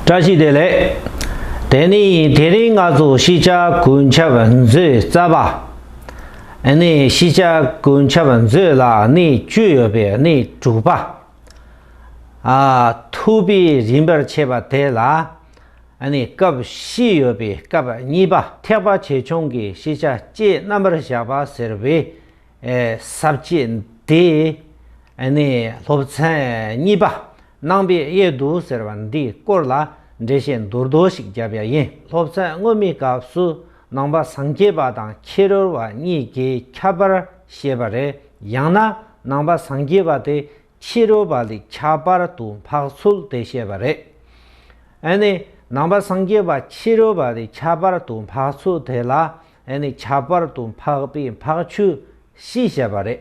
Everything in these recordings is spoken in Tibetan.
བཀྲ་ཤིས་བདེ་ལེགས། དེ་ནི་དེ་རིང་ང་ཚོ་ཤེས་བྱ་གོས་འཆབ་མཛོད་རྩ་བ། ཨ་ནི་ཤེས་བྱ་གོས་འཆབ་མཛོད་ལ་སྣེ་བཅུ་ཡོད་པའི་སྣེ་དྲུག་པ། ཨ་ཐུབ་པའི་རིམ་པར་ཕྱེས་པ་དེ་ལ་ཨ་ནི་སྐབས་བཞི་ཡོད་པའི་སྐབས་གཉིས་པ་ཐེག་པ་ཆེ་ཆུང་གི་ཤེས་བྱ་བཅས་རྣམ་པར་བཞག་པ་ཟེར་བས། ཟབ་བཅས་འདི་ནི་སློབ་ཚན་གཉིས་པ་ནང་པའི་དབྱེ་བསྡུ་ཟེར་བ་འདིའི་སྐོར་ལ་འགྲེལ་བཤད་མདོར་བསྡུ་ཞིག་བརྒྱབ་ཡ་ཡིན། སློབ་ཚན་སྔོན་མའི་སྐབས་སུ་ནང་པ་སངས་རྒྱས་པ་དང་ཁྱི་རོལ་བ་གཉིས་ཀྱི་ཁྱབ་པར་བཤད་པ་རེད་ཡང་ན་ནང་པ་སངས་རྒྱས་པ་དེ་ཁྱི་རོལ་བ་ལས་ཁྱབ་པར་དུ་འཕགས་ཚུལ་དེ་བཤད་པ་རེད། ནང་པ་སངས་རྒྱས་པ་ཁྱི་རོལ་བ་ལས་ཁྱབ་པར་དུ་འཕགས་ཚུལ་དེ་ལ་ཨེ་ནི་ཁྱད་པར་དུ་འཕགས་པའི་འཕགས་ཆོས་བཞི་བཤད་པ་རེད།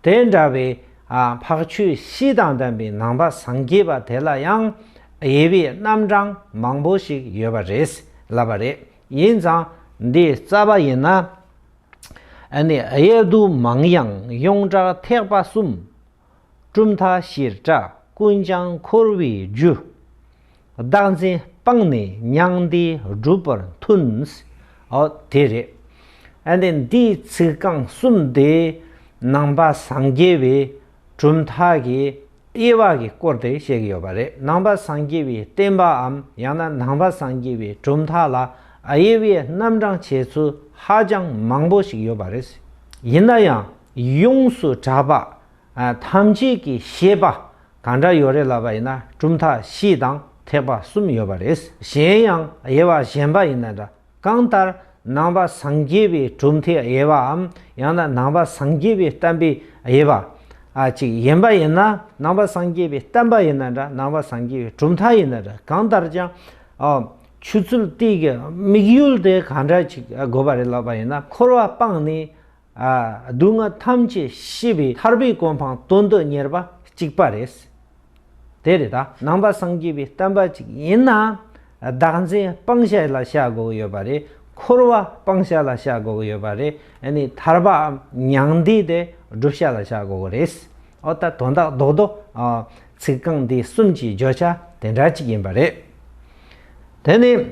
དེ་འདྲ་བའི་འཕགས་ཆོས་བཞི་དང་ལྡན་པའི་ནང་པ་སངས་རྒྱས་པ་དེ་ལ་ཡང་དབྱེ་བའི་རྣམ་གྲངས་མང་པོ་ཞིག་ཡོད་པ་རེད་ལབ་པ་རེད། ཡིན་ཙང་འདི་རྩ་བ་ཡིན་ན། ཨེ་ནི་དབྱེ་བསྡུ་མང་ཡང་ཡོངས་གྲགས་ཐེག་པ་གསུམ་གྲུབ་མཐའ་ཞིར་གྲགས་ཀུན་ཀྱང་འཁོར་བའི་རྒྱུ། བདག་འཛིན་སྤངས་ནས་མྱང་འདས་བསྒྲུབ་པར་མཐུན། ཨོ་དེ་རེད། ཨ་ནི་འདིའི་ཚིག་རྐང་གསུམ་དེ་ནང་པ་སངས་རྒྱས་པའི་གྲུབ་མཐའ་གྱི་དབྱེ་བ་གི་སྐོར་དེ་བཤད་ཀྱི་ཡོད་པ་རེད་ནང་པ་སངས་རྒྱས་པའི་བསྟན་པའམ་ཡང་ན་ནང་པ་སངས་རྒྱས་པའི་གྲུབ་མཐའ་ལ་དབྱེ་བའི་རྣམ་གྲངས་འཆད་ཚུལ་ཧ་ཅང་མང་པོ་ཞིག་ཡོད་པ་རེད། ཡིན་ན་ཡང། ཡོངས་སུ་གྲགས་པ། ཐམས་ཅད་ཀྱི་ཤེས་པ་གང་འདྲ་ཡོད་རེད་ལབ་པ་ཡིན་ན་གྲུབ་མཐའ་བཞི་དང་ཐེག་པ་གསུམ་ཡོད་པ་རེད། གཞན་ཡང་དབྱེ་བ་གཞན་པ་ཡིན་ན་འདྲ། གང་ལྟར་ནང་པ་སངས་རྒྱས་པའི་གྲུབ་མཐའི་དབྱེ་བའམ་ཡང་ན་ནང་པ་སངས་རྒྱས་པའི་བསྟན་པའི་དབྱེ་བ། ཅིག་ཡིན་པ་ཡིན་ན་ནང་པ་སངས་རྒྱས་པའི་བསྟན་པ་ཡིན་ན་འདྲ་ནང་པ་སངས་རྒྱས་པའི་གྲུབ་མཐའ་ཡིན་ན་འདྲ་གང་ལྟར་ཀྱང། ཆུ་ཚོད་སྟེགས་ཀྱི་དམིགས་ཡུལ་དེ་གང་འདྲ་ཅིག་དགོས་པ་རེད་ལབ་པ་ཡིན་ན་འཁོར་བ་སྤངས་ནས་སྡུག་བསྔལ་ཐམས་ཅད་ཤི་བའི་ཐར་པའི་གོ་འཕང་སྟོན་དུ་གཉེར་བ་གཅིག་པ་རེད། དེ་རེད་ད་ནང་པ་སངས་རྒྱས་པའི་བསྟན་པ་གཅིག་ཡིན་ན་བདག་འཛིན་སྤང་བྱ་ལ་བྱ་དགོས་ཀྱི་ཡོད་པ་རེད་འཁོར་བ་སྤང་བྱ་ལ་བྱ་དགོས་ཀྱི་ཡོད་པ་རེད་ནས་ཐར་པའམ་མྱང་འདས་དེ་བསྒྲུབ་བྱ་ལ་བྱ་དགོས་ཀྱི་རེད། འོ་ད་དོན་དག་རྡོག་རྡོག། ཚིག་རྐང་འདི་གསུམ་གྱི་བརྗོད་བྱ་དེ་འདྲ་གཅིག་ཡིན་པ་རེད། དེ་ནས་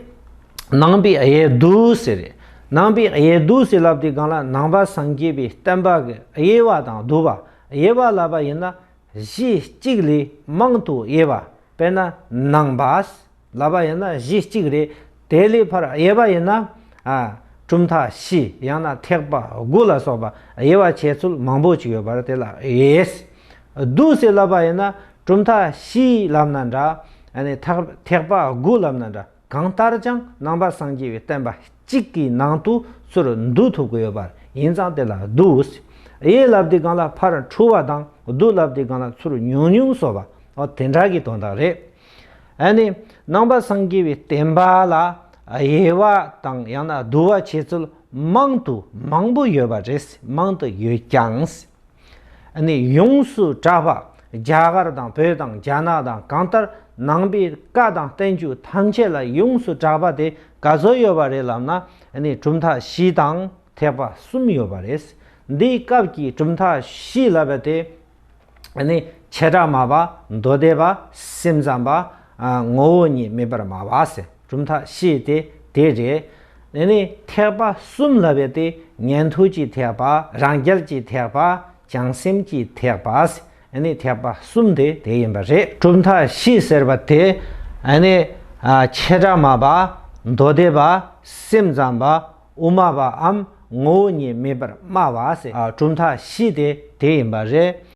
ནང་པའི་གཡས་བདུད་བསིལ་རེད། ནང་པའི་གཡས་བདུད་བསིལ་ལབ་དེའི་སྒང་ལ་ནང་པ་སངས་རྒྱས་པའི་བསྟན་པ་གི་དབྱེ་བ་དང་བསྡུ་བ་དབྱེ་བ་ལབ་པ་ཡིན་ན་གཞི་གཅིག་ལས་མང་དུ་དབྱེ་བ་དཔེར་ན་ནང་པ་ལབ་པ་ཡིན་ན་གཞི་གཅིག་རེད་དེ་ལས་ཕར་དབྱེ་བ་ཡིན་ན་གྲུབ་མཐའ་བཞི་ཡང་ན་ཐེག་པ་དགུ་ལ་སོགས་པ་དབྱེ་བ་བྱེད་ཚུལ་མང་པོ་ཅིག་ཡོད་པར་དེ་ལ་དབྱེ། བདུད་ཟེར་ལབ་པ་ཡིན་ན་གྲུབ་མཐའ་བཞིའི་ལབ་ན་འདྲ། ཐེག་པ་དགུ་ལབ་ན་འདྲ་གང་ལྟར་ཀྱང་ནང་པ་སངས་རྒྱས་པའི་བསྟན་པ་གཅིག་གི་ནང་དུ་ཚུར་འདུ་ཐུབ་ཀྱི་ཡོད་པར་ཡིན་ཙང་དེ་ལ་བདུད་ཨུསི་ཡའི་ལབ་དེ་གང་ལ་ཕར་འཁྲུལ་བ་དང་བདུད་ལབ་དེ་གང་ལ་ཚུར་ཉུང་ཉུང་སོགས་པ་དེ་འདྲ་གི་དོན་དག་རེད། ནང་པ་སངས་རྒྱས་པའི་བསྟན་པ་ལ་དབྱེ་བ་དང་ཡང་ན་བསྡུ་བ་བྱེད་ཚུལ་མང་དུ་མང་པོ་ཡོད་པ་རེད་མང་དུ་ཡོད་ཀྱང། ནས་ཡོངས་སུ་གྲགས་པ་རྒྱ་གར་དང་བོད་དང་རྒྱ་ནག་དང་གང་ལྟར་ནང་པའི་བཀའ་དང་བསྟན་བཅོས་ཐམས་ཅད་ལ་ཡོངས་སུ་གྲགས་པ་དེ་ག་ཚོད་ཡོད་པ་རེད་ལབ་ན་གྲུབ་མཐའ་བཞི་དང་ཐེག་པ་གསུམ་ཡོད་པ་རེད། འདིའི་སྐབས་ཀྱི་གྲུབ་མཐའ་བཞི་ལབ་པ་དེ་བྱེ་བྲག་མ་པ་མདོ་སྡེ་པ་སེམས་ཙམ་པ་ངོ་བོ་ཉིད་མེད་པར་སྨྲ་བ། གྲུབ་མཐའ་བཞི་སྟེ་དེ་རེད། དེ་ནས་ཐེག་པ་གསུམ་ལ་བས་ཏེ་ཉན་ཐོས་ཀྱི་ཐེག་པ་རང་རྒྱལ་གྱི་ཐེག་པ་བྱང་སེམས་ཀྱི་ཐེག་པ། ནི་ཐེག་པ་གསུམ་དེ་དེ་ཡིན་པ་རེད། གྲུབ་མཐའ་བཞི་ཟེར་བ་དེ། ནི། ཆེ་དགྲ་མ་པ། མདོ་སྡེ་པ། སེམས་ཙམ་པ། དབུ་མ་པའམ་ངོ་བོ་ཉིད་མེད་པར་སྨྲ་བ། གྲུབ་མཐའ་བཞི་དེ་དེ་ཡིན་པ་རེད།